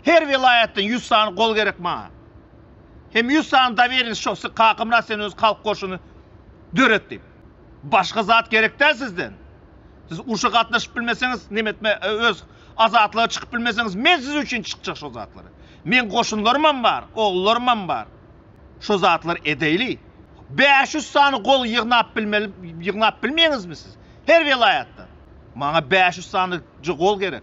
Her welaýatdan ýüz sany gol gerek maňa. Hem ýüz sany doweriýeniç şo siz Kakamyrat sen öz halk goşuny döret diýip. Başga zat gerek däl sizden. Siz urşa gatnaşyp bilmeseňiz, neme etme, öz azatlyga çykyp bilmeseňiz, men siz üçin çykjak şo zatlara. Meň goşunlarymam bar, ogullarymam bar. Şo zatlary edeýli. Bäş ýüz sany gol ýygnap bilmeli, ýygnap bilmeýäňizmi siz? Her welaýatdan. Maňa bäş ýüz sanyja gol gerek.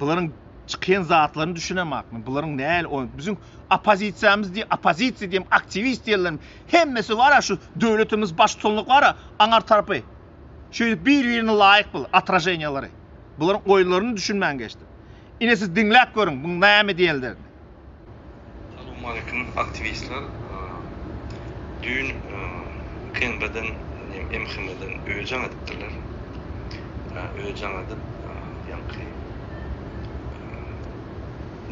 Bularyň çykýan zatlaryny düşünemak men. Bularyň näl oýun. Biziň oppozisiýamyz diýip, oppozisiýa diýip, aktiwist diýenleriň hemmesi bar-a şu döwletimiz baştutanlyk bar-a aňar tarapy. Şeýdip bir-birine laýyk bul otraženiýalary. Bularyň oýunlaryny düşünmän geçdim. Ine siz diňläp görüň, bu näme diýenlerini. Salowmalikim aktiwistler düýn knbden diýen mhmden öýjagn edipdirler öýjagn edip ýaňky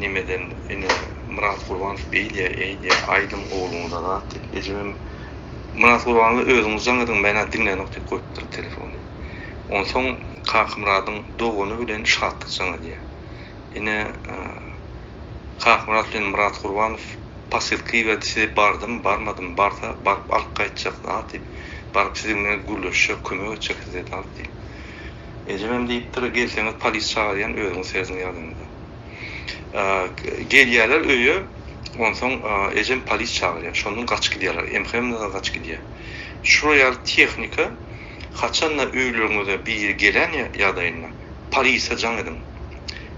nemeden ene Myrat Gurbanow beý diýä eý diýä aýdyň ogluňyza zat diýip ejemem Myrat Gurbanowa özüňiz jaň ediň menä diňlänok diýip goýupdyr telefony onsoň Kakamyradyň dogany bilen şatlyk jaň edýä Ine, Kakmyrat bilen Myrat Gurbanow posylka iberdi, size bardymy, barmadymy, barsa, baryp alyp gaýtjakda, ha, diýip, baryp siziň bilen gürleşjek, kömek etjek size, Dawut, diýip. Ejemem diýipdir, gelseňiz, polis çagyrýan, özüňiz serediň ýadyňyzda. Gelýärler öýe, onsoň ejem polis çagyrýar, şondan gaçyp gidýärler, MHM-de-de gaçyp gidýär. Şular ýaly tehnika haçan-da öýleriňize biri gelen ýagdaýynda, Polise jaň ediň.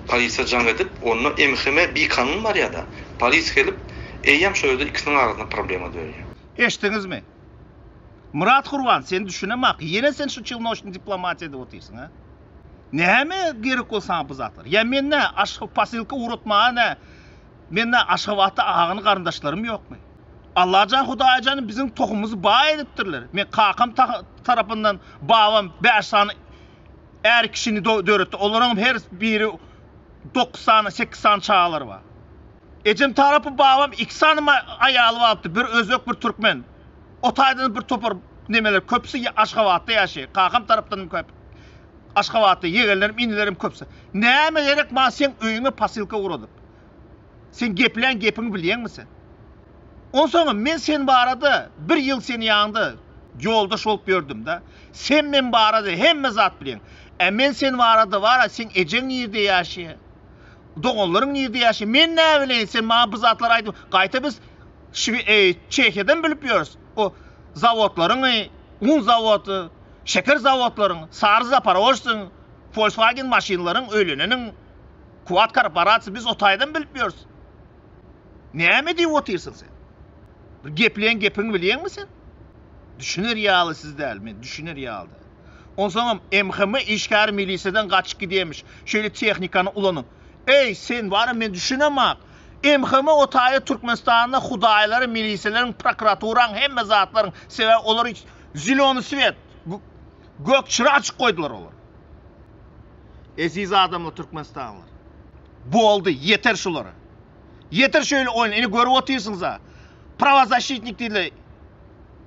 Polise jaň edip onda MHM bikanun barýada. Polis gelip eýýäm şo ýerde ikisiniň arasynda problema dörýär. Eşdiňizmi? Myrat Gurban sen düşünemaka ýene sen şu çilnoşny diplomatiýa edip otyrsyň hä? Näme gerek bol saňa bu zatlar? Ýa men nä aşga posilka ugratmaga nä men nä Aşgabatda agany garyndaşlarym ýokmy? Allajan Hudaýjan biziň tohumymyzy baý edipdirler. Men kakam tarapyndan babam bäş sany Är kişini döretdi. Olaryňam her biri dokuz sany, sekiz sany çagalary bar. Ejem tarapy babam iki sany aýaly bardy. Bir özbek, bir türkmen. O taýdan bir topar nemeler köpüsi Aşgabatda ýaşaýar. Kakam tarapdanam köp. Aşgabatda ýegenlerim, inilerim köpüsi. Näme gerek maňa seň öýüňe posilka ugradyp? Sen geplän gepiňi bilýäňmi sen? Onsoňam men sen barada bir ýyl seniň ýanyňda ýoldaş bolup ýördüm-dä. Sen men barada hemme zat bilýäň. Ä men sen barada bar-a, seň ejeň nirde ýaşaýar? Doganlaryň nirde ýaşaýar? Men näbileýin, sen maňa bu zatlary aýdyp, gaýta biz Şwi, e, Çehiýadan bilip ýörüs. O zawodlaryňy, un zawody, şeker zawodlaryň, sary zaparožsyň, Volkswagen maşynlaryň öýleneniň. Kuwat korporasiýa biz o taýdan bilip ýörüs. Näme diýip otyrsyň sen? Bir gepleýän gepiňi bilýäňmi sen? Düşüner ýaly siz däl, men düşüner ýaly däl. Onsoňam MHM işgäri milisiýadan gaçyp gidýämiş, şeýle tehnikany ulanyp. Eý, sen bara men düşünemok. MHM o taýda Türkmenistanda hudaýlaryň, milisiýalaryň, prokuraturaň, hemme zatlaryň, sebäbi olar zeleny svet, gök çyra açyk goýdular olar. Eziz adamlar türkmenistanlylar. Boldy, ýeter şulara. Ýeter şöýle oýun, ine görüp otyrsyňyza. Prawozasşitnik diýle.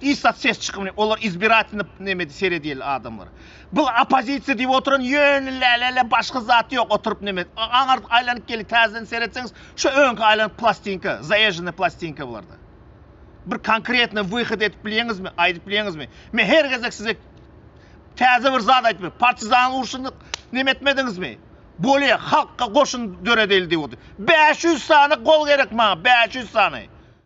Istat ses çykymyny, olar izbiratelny nemedi seredýeli adamlar. Bu opozisiýa diýip oturan ýöne lälele başga zat ýok, oturyp nemet. Aňar aýlanyp geli täzeden seretseňiz, şu öňki aýlanyp plastinka, zaýežene plastinka bularda. Bir konkretny wyhod edip bilýeňizmi, aýdyp bilýeňizmi? Men her gezek size Täze bir zat aýtmaly. Partizan urşunda neme etmediňizmi? Bolýa, halkga goşun döredildi. 500 sany gol gerek maňa, 500 sany.